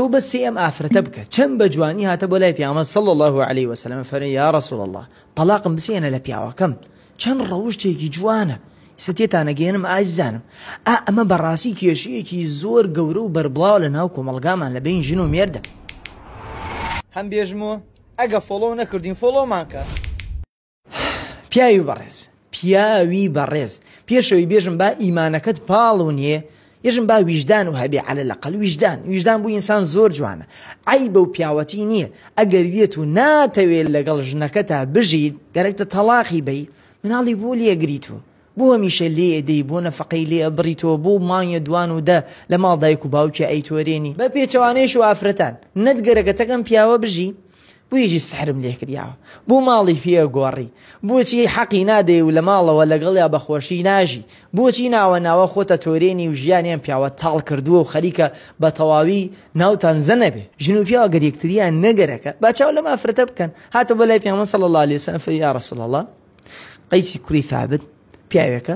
تۆ بەسی ئەم ئافرەتە بکە چەند بە جوانی هاتە بۆ لای پیامە سەڵ الله عليه وسلم فەرە یا رسول الله طلاقم بسێنە لە پیاوەکەم چەند ڕەوشتێکی جوانە ستێتانەگەێنم ئازانم ئا ئەمە بەڕاستی کێشەیەکی زۆر گەورە و بەربڵاو لە ناو کۆمەلگامان لە بین ژن و مێردە هەم بێژمۆ ئەگە فۆڵۆ نەکردین فۆڵۆمانکە. پیاوی بەڕێز پیاوی بەڕێز پێشەوی بێژم با ئیمانەکەت پاڵ و نیە یژم با ویژدان و هەبێ علە لە قەل ویژدان ویژدان بوو ئینسان زۆر جوانە ئەی بەو پیاوەتی نییە ئەگەر وێت و ناتەوێت لەگەڵ ژنەکە تا بژیت گەرەکتە تەلاقی بی مناڵی بۆ لێگریت و بۆ هەمیشە لێ دەی بۆ نەفقەی لێ بڕیتەوە بۆ مانگە دوان و دە لە ماڵ دایک و باوکی ئەیتۆرێنی بە پێچوانێش و ئافرەتان نەت گەرەکەتەکەم پیاوە بژی بویژی سحرم لێ کریاوە بۆ ماڵی پێ گۆڕی بۆچی حەقی نادەی و لە ماڵەوە لەگەڵیا بەخۆشی ناژی بۆچی ناوە ناوە خۆتە تۆرێنی و ژیانیان پیاوە تاڵ کردووە و خەریکە بە تەواوی ناوتان زەنەبێ ژن و پیاوە گەر یەکتریان نەگەرەکە با چاو لەم ئافرەتە بکەن هاتە بۆ لای پێمە سەڵ الله عليه وسلم فەی یا رسول الله قەیسی کوری ثابت پیاوێکە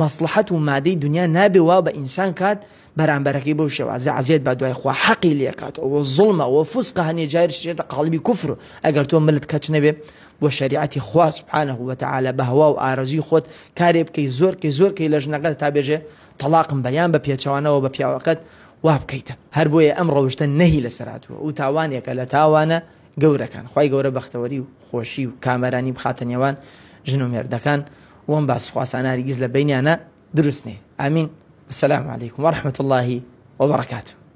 مەسڵەحەت و مادەی دونیا نابێ وا بە ئینسان کات بەرامبەرەکەی بەو شێوازە عەزێت با دوای خوا حەقی لێکات ئەوە زوڵمە ئەوە فوسقە هەنێ جاریش دەچێتە قاڵبی کوفر ئەگەر تۆ ملت کەچ نەبێ بۆ شەریعەتی خوا سبحانە وتعالی بە هەوا و ئارەزوی خۆت کارێ بکەی زۆر کەی زۆر کەی لە ژنەکەت تا بێژێ تەڵاقم بە یان بە پێچەوانەوە بە پیاوەکەت وا بکەیتە هەر بۆیە ئەم ڕەوشتە نەهی لەسەر هاتووە و تاوانێکە لە تاوانە گەورەکان خوای گەورە بەختەوەری و خۆشی و کامەرانی بخاتە نێوان ژن و مێردەکان وەم باس خواسانە هەرگیز لە بەینیانە دروست نێ ئامین السلام علیکم ورحمة اللە وبرکاته.